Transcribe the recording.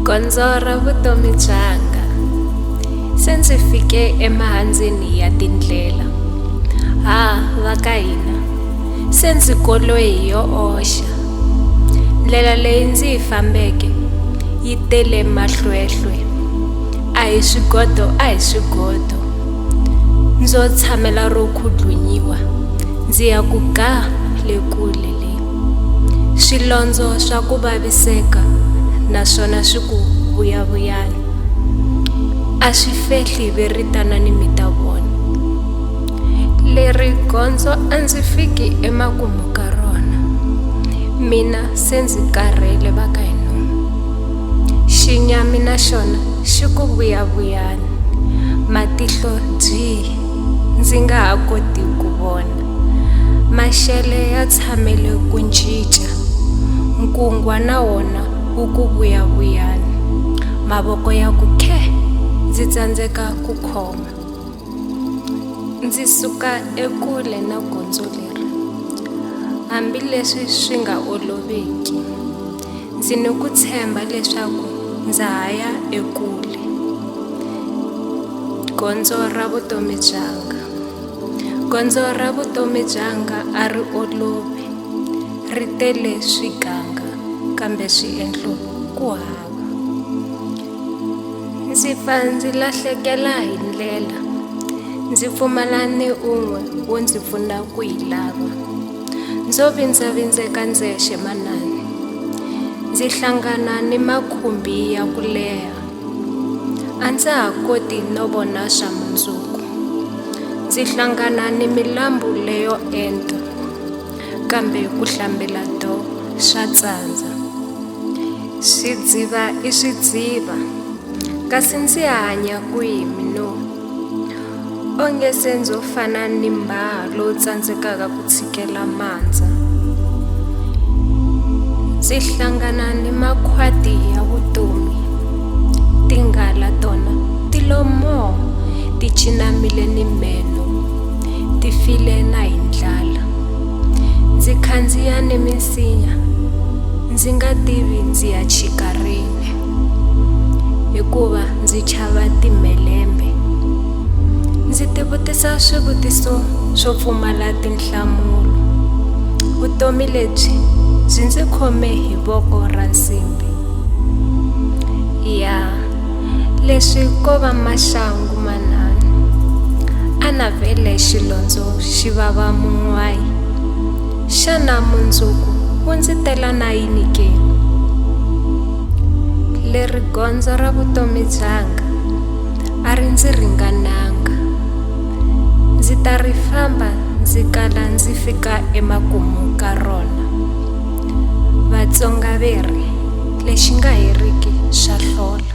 gondzo ra vutomi byanga se ndzi fike emahandzeni ya tindlela ha va ka hina se ndzi koloyi hi yo oxa ndlela leyi ndzi yi fambeke yi tele mahlwehlwe a hi swigodo a hi swigodo ndzo tshamela ro khudlunyiwa ndzi ya ku ga le kule swilondzo swa ku vaviseka naswona swi ku vuyavuyani a swi fehli ve ri tanani mi ta vona leri gondzo a ndzi fiki emakumu ka rona mina se ndzi karhele va ka hinomu xinyami na xona xi ku vuyavuyani matihlo byi ndzi nga ha koti ku vona Maxele ya tshamele ku ncinca, nkungwa na wona wu ku vuyavuyani. Mavoko ya ku khè, ndzi tsandzeka ku khoma. Ndzi suka ekule na gondzo leri, hambileswi swi nga oloviki. Ndzi ni ku tshemba leswaku ndza ha ya ekule, gondzo ra vutomi byanga. Gondzo ra vutomi byanga a ri olovi, ri tele swiganga kambe swiendlo ku hava. Ndzi fa ndzi lahlekela hi ndlela, ndzi pfumala ni un'we wo ndzi pfuna ku yi lava. Ndzo vindzavindzeka ndzexe manana, ndzi hlangana ni makhumbi ya ku leha. A ndza ha koti no vona swa mundzuku. Ndzi hlangana ni milambu leyo enta, kambe ku hlambela do swa tsandza. Swidziva i swidziva, kasi ndzi hanya kwihi mina? onge se ndzo fana ni mbaha lowu tsandzekaka ku tshikela mandza ndzi hlangana ni makhwati ya vutomi tinghala tona ti lomoo ti cinamile ni meno ti file na hi ndlala ndzi khandziya ni minsinya ndzi nga tivi ndzi ya chika rini hikuva ndzi chava timhelembe ndzi tivutisa swivutiso swo pfumala tinhlamulo vutomi lebyi byi ndzi khome hi voko ra nsimbi ya leswi ko va maxangu manhanu a navele xilondzo xi vava mun'wayi xana mundzuku wu ndzi tela na yini ke leri gondzo ra vutomi byanga a ri ndzi ringananga ndzi ta ri famba ndzi kala ndzi fika emakumu ka rona vatsonga ve ri lexi nga heriki swa hlola